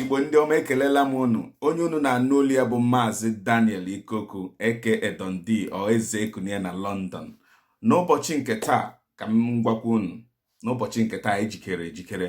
igbo ndị ọma ekelela m unu onye unu na-anụ olu ya bụ maazị daniel ikoku aka dondi or eze ekunie na london n'ụbọchị nke taa ka m gwakwa unu n'ụbọchị nke taa anyị jikere ejikere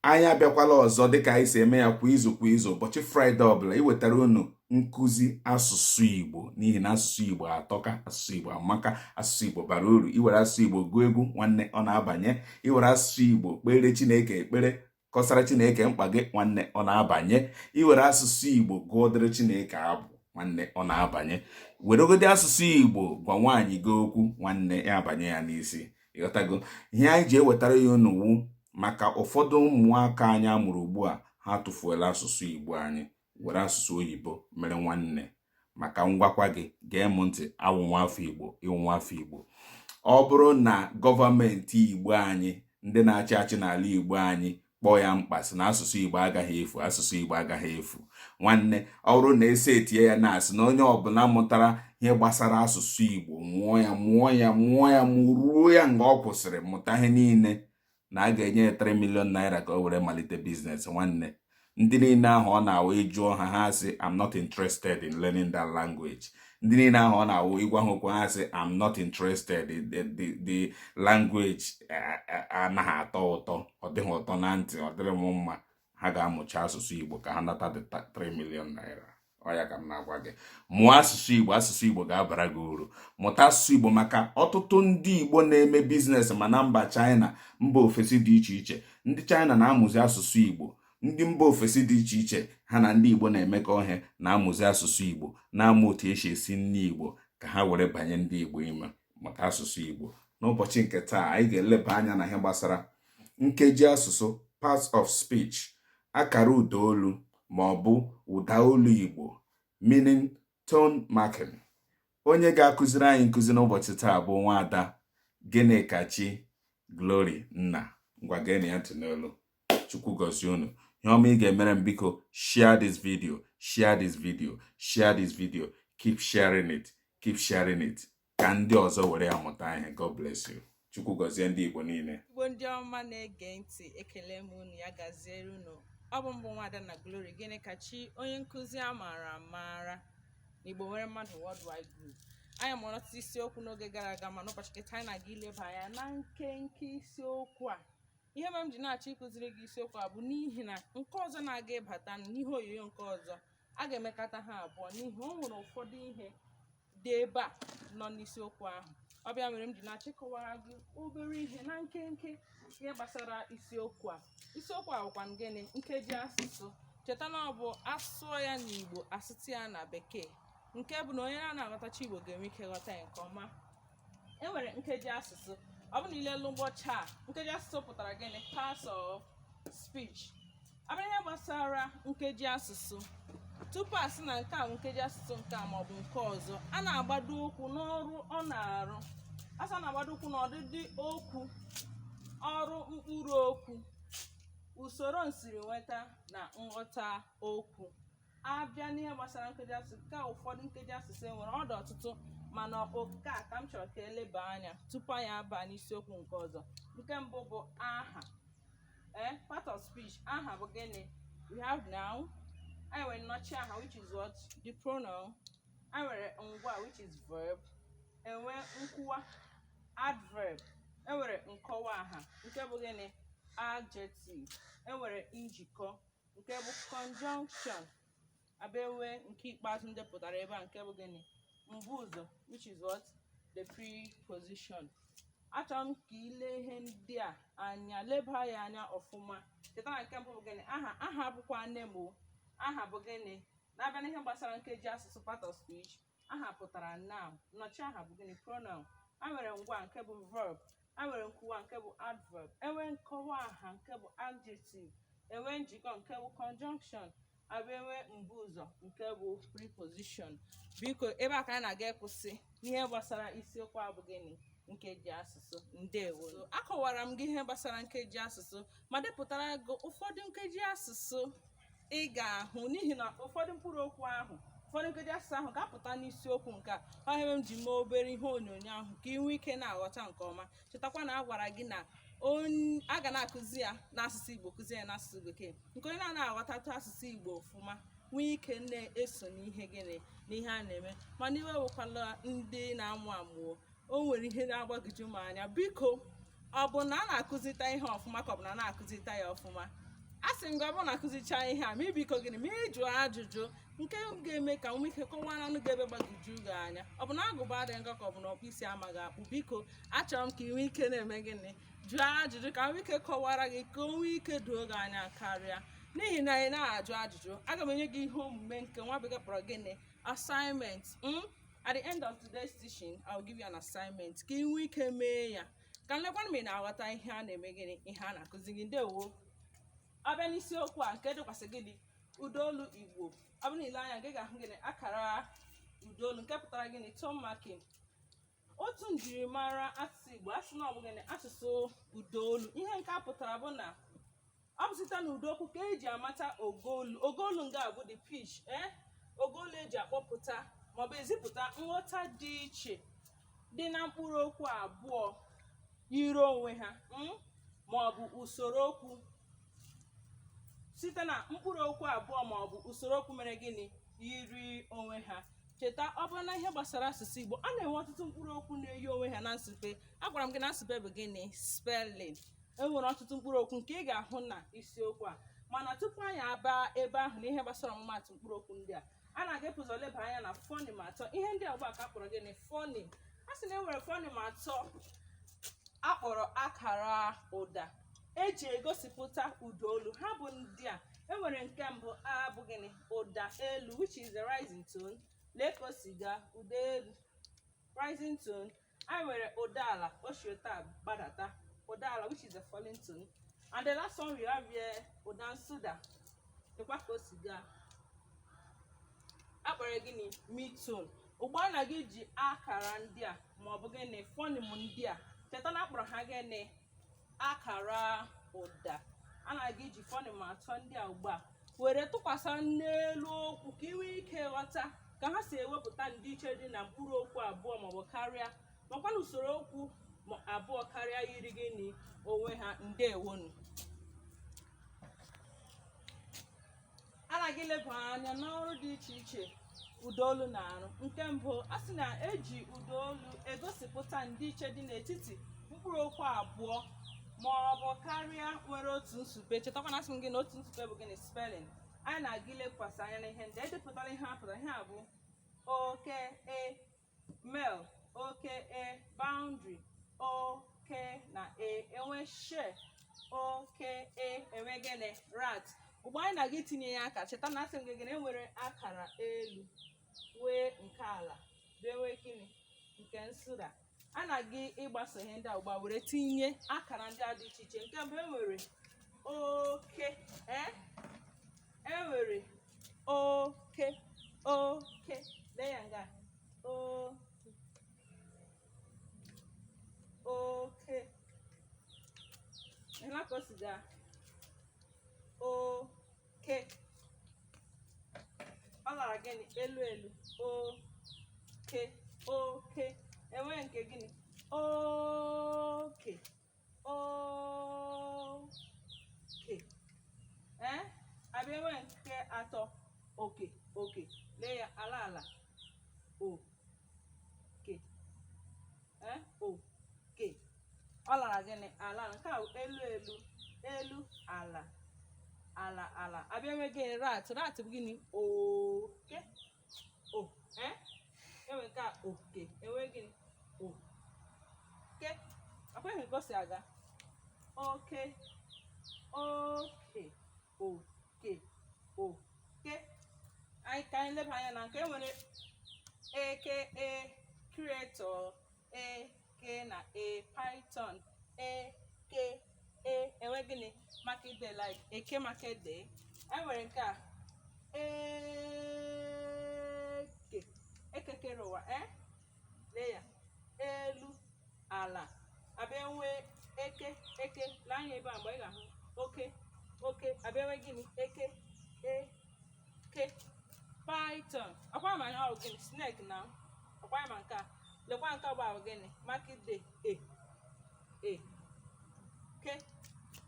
anyị abịakwala ọzọ dịka anyị si eme ya kwa izu kwa izu ụbọchị fraịde ọbụla iwetara unu nkụzi asụsụ igbo n'ihi na asụsụ igbo atọka asụsụ igbo amaka asụsụ igbo bara uru i were asụsụ igbo gụọ egwu nwanne ọ na-abanye i were asụsụ igbo kpeere chineke ekpere kọsara chineke mkpa gị nwanne ọ na-abanye i were asụsụ igbo gụọdịrị chineke abụ nwanne ọ na-abanye weregodi asụsụ igbo gwa nwaanyị gị okwu nwanne ya abanye ya n'isi ị ghọtago ihe anyị ji ewetara ya unu wụ maka ụfọdụ ụmụaka anyị a mụrụ ugbu a ha tụfuola asụsụ igbo anyị were asụsụ oyibo mere nwanne ma ka m gwakwa gị gee m ntị awụ m nwa afọ igbo ị wụ nwa afọ igbo ọ bụrụ na gọọmenti igbo anyị ndị na-achị achị n'ala igbo anyị kpọọ ya mkpa sị na asụsụ igbo agaghị efu asụsụ igbo agaghị efu nwanne ọ bụrụ na e si etinye ya na a sị na onye ọbụla mụtara ihe gbasara asụsụ igbo mụọ ya mụọ ya mụọ ya mụruo ya nga ọ kwụsịrị mụta ihe niile na a ga-enye ya 3 million naira ka o were malite biznes nwanne ndị niile ahụ ọ na-awụ ị jụọ ha ha sị i'm not interested in learning that language ndị niile ahụ ọ na-awụ ị gwa ha okwu ha sị i'm not interested the language anaghị atọ ụtọ ọ dịghị ụtọ na ntị ọ dịrị m mma ha ga-amụcha asụsụ Igbo ka ha nata the 3 million naira ọ ya ka m na-agwa gị mụọ asụsụ Igbo asụsụ Igbo ga-abara gị uru mụta asụsụ Igbo maka ọtụtụ ndị Igbo na-eme biznes ma na mba China mba ofesi dị iche iche ndị China na-amụzi asụsụ Igbo ndị mba ofesi dị iche iche ha na ndị Igbo na-emekọ ihe na-amụzi asụsụ Igbo na-amụ otu esi esi nri Igbo ka ha were banye ndị Igbo ime maka asụsụ Igbo n'ụbọchị nke taa anyị ga-eleba anya na ihe gbasara nkeji asụsụ parts of speech akara ụda olu ma ọ bụ ụda olu Igbo meaning tone marking onye ga-akụziri anyị nkụzi n'ụbọchị taa bụ nwaada Gịnịkachi Glory Nna ngwa geenụ ya ntị n'olu chukwu gọzie unu ihe ọma ị ga-emere m biko share this video share this video share this video keep sharing it keep sharing it ka ndị ọzọ were ya mụta ihe god bless you chukwu gọzie ndị igbo niile igbo ndị ọma na-ege ntị ekele m unu ya gaziere unu ọ bụ m bụ nwaada nna glory gịnịkachi onye nkụzi a maara amara na igbo nwere mmadụ worldwide group anyị mụrụ ọtụtụ isiokwu n'oge gara aga ma n'ụbọchị nke taa anyị na-aga ileba anya na nkenke isiokwu a ihe mere m ji na-achọ ịkụziri gị isiokwu a bụ n'ihi na nke ọzọ na-aga ịbata n'ihe onyonyo nke ọzọ a ga-emekọta ha abụọ n'ihi o nwere ụfọdụ ihe dị ebe a nọ n'isiokwu ahụ ọ bụ ya mere m ji na-achọ ịkọwara gị obere ihe na nkenke ihe gbasara isiokwu a isiokwu a bụkwa gịnị nkeji asụsụ cheta na ọ bụ asụọ ya n'igbo asụọ ya na bekee nke bụ na onye na-anaghị aghọtacha igbo ga-enwe ike ghọta ya nke ọma e nwere nkeji asụsụ ọ bụrụ na ile elu ụgbọ ọcha a nkeji asụsụ pụtara gịnị parts of speech abịa ihe gbasara nkeji asụsụ tupu a sị na nke a bụ nkeji asụsụ nke a maọbụ nke ọzọ a na-agbado ụkwụ n'ọrụ ọ na-arụ a sị a na-agbado ụkwụ n'ọdịdị okwu ọrụ mkpụrụ okwu usoro nsiri nweta na nghọta okwu abịa n'ihe gbasara nkeji asụsụ nke a ụfọdụ nkeji asụsụ e nwere ọ dị ọtụtụ mana ọ nke a ka m chọrọ ka eleba anya tupu anyị abaa n'isiokwu nke ọzọ nke mbụ bụ aha ee part of speech aha bụ gịnị we have noun e nwere nnọchi aha which is what the pronoun e nwere ngwaa which is verb enwe nkwuwa adverb enwere nkọwa aha nke bụ gịnị adjective enwere njikọ nke bụ conjunction abịa enwe nke ikpeazụ m depụtara ebe a nke bụ gịnị mbu ụzọ which is what the preposition achọrọ m ka ile ihe ndị a anya leba ya anya ọfụma cheta na nke mbụ bụ gịnị aha aha bụkwa name aha bụ gịnị na-abịa n'ihe gbasara nkeji asụsụ part of speech aha pụtara noun nnọchi aha bụ gịnị pronoun a nwere ngwaa nke bụ verb a nwere nkwuwa nke bụ adverb enwe nkọwa aha nke bụ adjective enwe njikọ nke bụ conjunction abịa enwe mbu ụzọ nke bụ preposition biko ebe a ka anyị na-aga ịkwụsị n'ihe gbasara isiokwu a bụ gịnị nkeji asụsụ ndewo akọwara m gị ihe gbasara nkeji asụsụ ma depụtara gị ụfọdụ nkeji asụsụ ị ga-ahụ n'ihi na ụfọdụ mkpụrụ okwu ahụ ụfọdụ nkeji asụsụ ahụ ga-apụta n'isiokwu nke a ọ ihe m ji mee obere ihe onyonyo ahụ ka ị nwee ike na-aghọta nke ọma chetakwa na a gwara gị na a ga na-akụzi ya n'asụsụ Igbo kụzie ya n'asụsụ Bekee nke onye na-anaghị aghọtatụ asụsụ Igbo ọfụma nwee ike na-eso n'ihe gịnị n'ihe a na-eme mana iwe ewekwala ndị na-amụ amụ o o nwere ihe na-agbagwoju m anya biko ọ bụ na a na-akụzita ihe ọfụma ka ọ bụ na a na-akụzita ya ọfụma a sị m gị ọ bụrụ na akụzicha ihe a ma ị biko gịnị ma ị jụọ ajụjụ nke ga-eme ka m nwee ike kọwaranụ gị ebe gbagwoju gị anya ọ bụ na agụba adịghị nkọ ka ọ bụ na ọkpụ isi amaghị akpụ biko achọrọ m ka ị nwee ike na-eme gịnị jụọ ajụjụ ka m nwee ike kọwara gị ka o nwee ike doo gị anya karịa n'ihi na ị na-ajụ ajụjụ aga m enye gị ihe omume nke nwa bekee kpọrọ gịnị assignment m hmm? at the end of today's teaching i will give you an assignment ka ị nwee ike mee ya ka m lekwa ma ị na-aghọta ihe a na-eme gịnị ihe a na-akụzi gị ndewo abịa n'isiokwu a nke dịkwasị gịnị ụdaolu igbo ọ bụrụ na ile anya ị ga-ahụ gịnị akara ụdaolu nke pụtara gịnị tone marking otu njirimara asụsụ igbo asị na ọ bụ gịnị asụsụ ụdaolu ihe nke a pụtara bụ na ọ bụ site na ụda okwu ka eji amata ogoolu ogoolu nga bụ the pitch ee eh? ogoolu eji akpọpụta maọbụ ezipụta nghọta dị iche dị na mkpụrụ okwu abụọ yiri onwe ha hmm? maọbụ usoro okwu site na mkpụrụ okwu abụọ maọbụ usoro okwu mere gịnị yiri onwe ha cheta ọ bụrụ na ihe gbasara asụsụ igbo a na-enwe ọtụtụ mkpụrụ okwu na-eyi onwe ha na nsụpe agwara m gị na nsụpe bụ gịnị spelling e nwere ọtụtụ mkpụrụ okwu nke ị ga-ahụ na isiokwu a mana tupu anyị aba ebe ahụ na ihe gbasara ọmụmatụ mkpụrụ okwu ndị a a na-aga ibu ụzọ leba anya na fọnim atọ ihe ndị bekee kpọrọ gịnị fọnim a sị na e nwere fọnim atọ akpọrọ akara ụda eji egosipụta ụda olu ha bụ ndị a enwere nke mbụ a bụ gịnị ụda elu which is the rising tone lee ka o si gaa ụda elu rising tone anyị nwere ụda ala o si otu a gbadata ụda ala which is a falling tone and the last one we have here ụda nsụda lekwa ka o si gaa akpọrọ gịnị mid tone ugbu a na-aga iji akara ndị a ma ọ bụ gịnị fọnịm ndị a cheta na akpọrọ ha gịnị akara ụda a na-aga iji fọnịm atọ ndị a ugbu a were tụkwasị n'elu okwu ka ị nwee ike ghọta ka ha si ewepụta ndịiche dị na mkpụrụ okwu abụọ maọbụ karịa makwa na usoro okwu ma- abụọ karịa yiri gịnị onwe ha ndewonụ a na-aga ileba anya n'ọrụ dị iche iche ụdaolu na-arụ nke mbụ a sị na eji ụdaolu egosipụta ndịiche dị n'etiti mkpụrụ okwu abụọ ma ọ bụ karịa nwere otu nsupe chetakwa na asị m gị na otu nsupe bụ gịnị spelling anyị na-aga ilekwasị anya n'ihe ndị edepụtara ihe a pụtara ihe a bụ oke e Male, oke, e, boundary, oke na e, enwee share, oke, e, enwee gịnị, rat. Ugbu a anyị na-aga itinye ya aka, cheta na asị m gị gịnị enwere akara elu nwee nke ala bịa nwee gịnị nke nsụda a na-aga ịgbaso ihe ndị a ugbu a were tinye akara ndị a dị iche iche nke mbụ enwere oke ee e nwere oke oke lee ya nga oke oke ị hụla ka o si gaa oke ọ lara gịnị elu elu oke oke e nwee nke gịnị oke oke ee a bịa nwee nke atọ oke oke lee ya ala ala oke ee oke ọ lara gịnị ala ala nke a elu elu elu ala ala ala a bịa nwee gịnị rat rat bụ gịnị oke oke e nwere nke a oke e nwee gịnị oke akweghị ka o si aga oke oke oke oke anyị ka anyị leba anya na nke nwere eke e creator e ke na a python eke e nwee gịnị market day like eke market day e nwere nke a eke eke kere ụwa e lee ya elu ala a bịa nwee eke eke lee anya ebe a mgbe ị ga-ahụ oke oke a bịa nwee gịnị eke e ke python ọkwa ma ihe ọ gịnị snake na ọkwa ma nke a lekwa nke bụ ahụ gịnị market day eke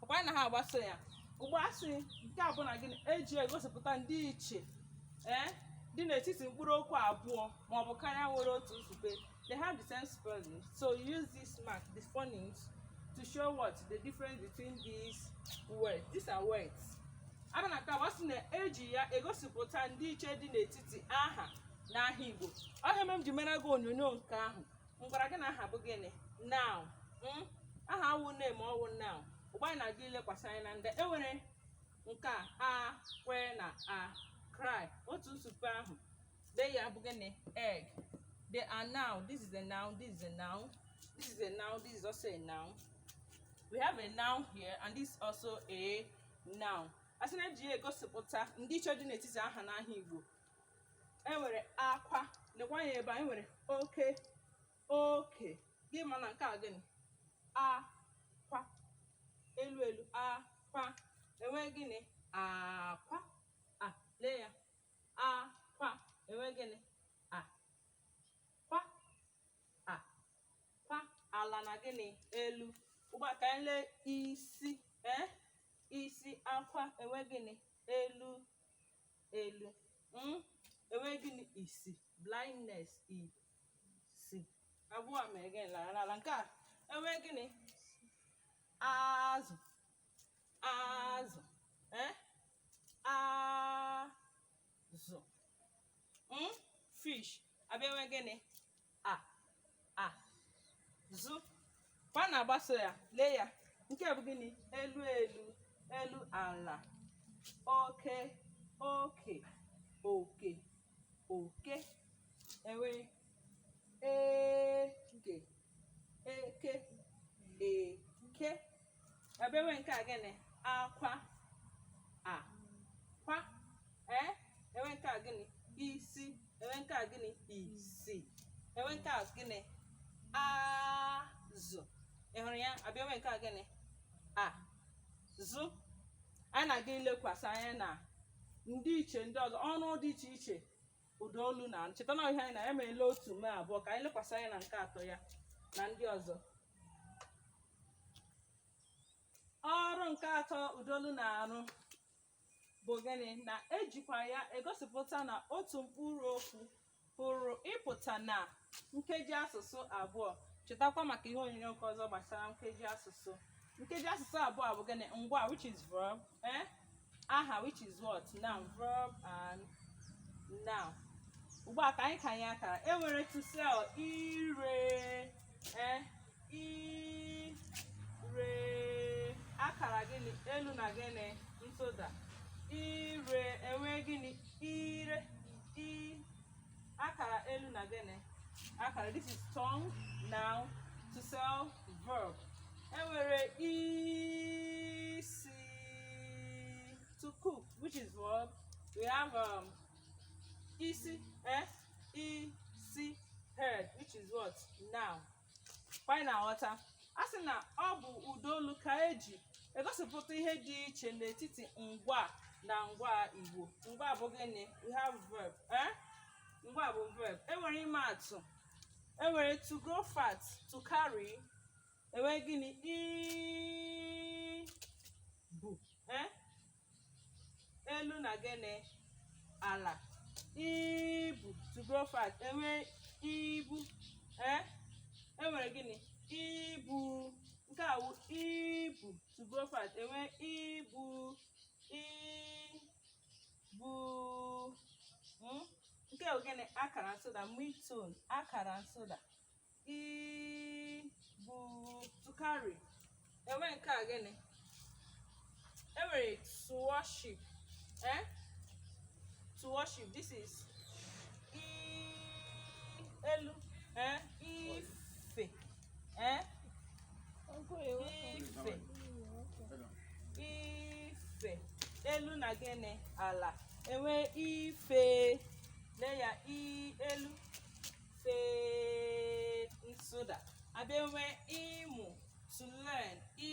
ọkwa na ha agbaso ya ugbu a a sị nke a bụ na gịnị e ji egosipụta ndịiche ee dị n'etiti mkpụrụ okwu abụọ ma ọ bụ karịa nwere otu nsupe They have the same spelling. So use this mark, the phonics, to show what the difference between these words. These are words. A bịa na nke abụọ a sị na e ji ya egosipụta ndịiche dị n'etiti aha na aha Igbo. Ọ ihe mere m ji mere gị onyonyo nke ahụ. M gwara gị na aha bụ gịnị? Noun. Mm? Aha wụ name ọ wụ noun. Ugbu a anyị na-aga ilekwasị anya na ndị. E nwere nke a akwa na a cry otu nsupe ahụ Dee ya bụ gịnị? Egg. They are noun. This is a noun. This is a noun. This is a noun. This is also a noun. We have a noun here and this is also a noun. A sị na e ji ya egosipụta ndịiche dị n'etiti aha na aha Igbo. E nwere akwa. Lekwa ya ebe a. E nwere oke. Oke. Ị ma na nke a gịnị? Akwa. Elu elu. Akwa. E nwee gịnị? Akwa. Ah, lee ya. akwa enwe gịnị akwa akwa ala na gịnị elu ugbu a ka anyị lee isi ee isi akwa enwe gịnị elu elu mm? enwe gịnị isi blindness isi abụọ mere gịnị lara n'ala nke a enwe gịnị azụ azụ eh? azụ mm? fish abịa nwe gịnị azụ kwa na-agbaso ya lee ya nke bụ gịnị elu elu elu ala oke oke oke oke enwe eke eke eke abịa enwe nke a gịnị akwa akwa ee enwe nke a gịnị isi enwe nke a gịnị isi enwe nke a gịnị azụ ị hụrụ ya abịa enwe nke a gịnị azụ anyị na-aga ilekwasị anya na ndị iche ndị ọzọ ọrụ dị iche iche ụda olu na-arụ cheta na ihe anyị na anyị emeela otu mee abụọ ka anyị lekwasị anya na nke atọ ya na ndị ọzọ ọrụ nke atọ ụda olu na-arụ bụ gịnị na ejikwa ya egosipụta na otu mkpụrụ okwu pụrụ ịpụta na nkeji asụsụ abụọ chetakwa maka ihe onyonyo nke ọzọ gbasara nkeji asụsụ nkeji asụsụ abụọ bụ gịnị ngwa which is verb eh? aha which is what noun verb and noun ugbu a ka anyị kanye akara e nwere to sell ire eh, ire akara gịnị elu na gịnị nsụda ire enwe gịnị ire i akara elu na gịnị akara this is tongue noun to sell verb enwere isi to cook which is verb we have um, isi eh, isi head which is what noun kwa anyị na-aghọta a sị na ọ bụ ụda olu ka eji egosipụta ihe dị iche n'etiti ngwa na ngwa igbo ngwa bụ gịnị we have verb eh? ngwa bụ verb enwere ịma atụ enwere to grow fat to carry enwere gịnị ibu eh? elu na gịnị ala ibu to grow fat enwe ibu eh enwere gịnị ibu nke a wụ ibu to grow fat enwe ibu ibu mm? nke a wụ gịnị akara nsụda mid tone akara nsụda ibu to carry enwe nke a gịnị enwere to worship eh? to worship this is i elu eh? ife eh? ife ife elu na gịnị ala enwe ife lee ya i elu fe nsụda abịa enwe ịmụ to learn i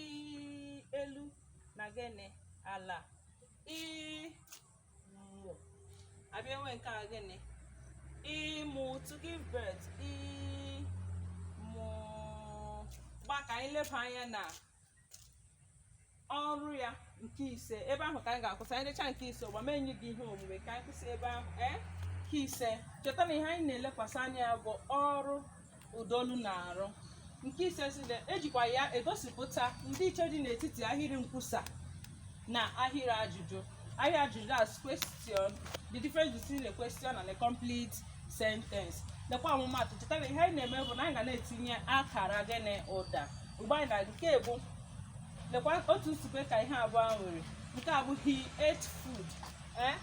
elu na gịnị ala ịmụ abịa enwe nke a gịnị ịmụ to give birth ịmụ ugbu a ka anyị leba anya na ọrụ ya nke ise ebe ahụ ka anyị ga-akwụsị anyị decha nke ise ugbu a m enye gị ihe omume ka anyị kwụsị ebe ahụ ee nke ise cheta na ihe anyị na-elekwasị anya bụ ọrụ ụdaolu na-arụ nke ise sị na e jikwa ya egosipụta ndịiche dị n'etiti ahịrị nkwusa na ahịrị ajụjụ ahịrị ajụjụ as question the difference between the question and the complete sentence lekwa ọmụmatụ cheta na ihe anyị na-eme bụ na anyị ga na-etinye akara gịnị ụda ugbu a na nke mbụ lekwa otu nsupe ka ihe abụọ a nwere nke a bụ he ate food eh?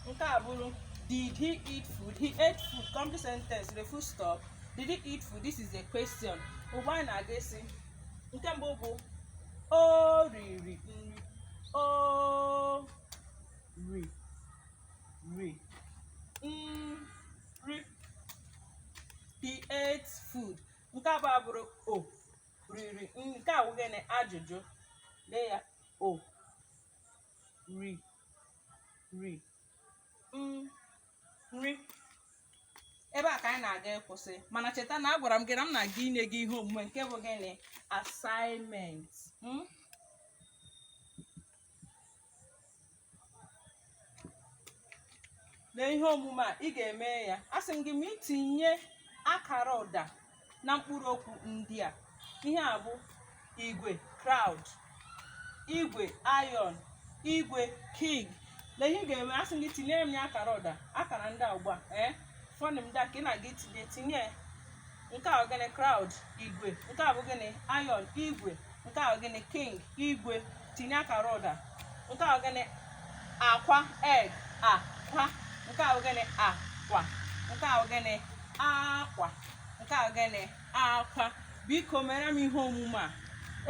nke a abụrụ did he eat food he ate food complete sentence the full stop did he eat food this is a question ugbu a anyị na-aga ịsị nke mbụ bụ o riri nri o ri ri nri he ate food nke abụọ abụrụ o riri nke a wụ gịnị ajụjụ lee ya o ri ri mm, nri ebe a ka anyị na-aga ịkwụsị mana cheta na agwara m gị na m na-aga inye gị ihe omume nke bụ gịnị assignment hmm? lee ihe omume a ị ga-eme ya asị m gị ma itinye akara ụda na mkpụrụ okwu ndị a ihe a bụ igwe crowd igwe iron igwe king lee ihe ị ga-eme asị m gị tinye m ya akara ụda akara ndị a ugbu a ee eh? fọnụ m da ka ị na-aga itinye tinye nke a bụ gịnị crowd igwe nke a bụ gịnị iron igwe nke a gịnị king igwe tinye akara ụda nke a gịnị akwa egg akwa nke a gịnị akwa nke a gịnị akwa nke a gịnị akwa biko mere m ihe omume a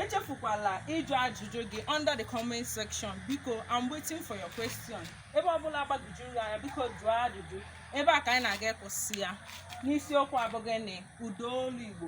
echefukwala ịjụ ajụjụ gị under the comment section biko I'm waiting for your question ebe ọbụla gbagojuru gị anya biko jụọ ajụjụ ebe a ka anyị na-aga ịkwụsị ya n'isiokwu a bụ gịnị ụda olu Igbo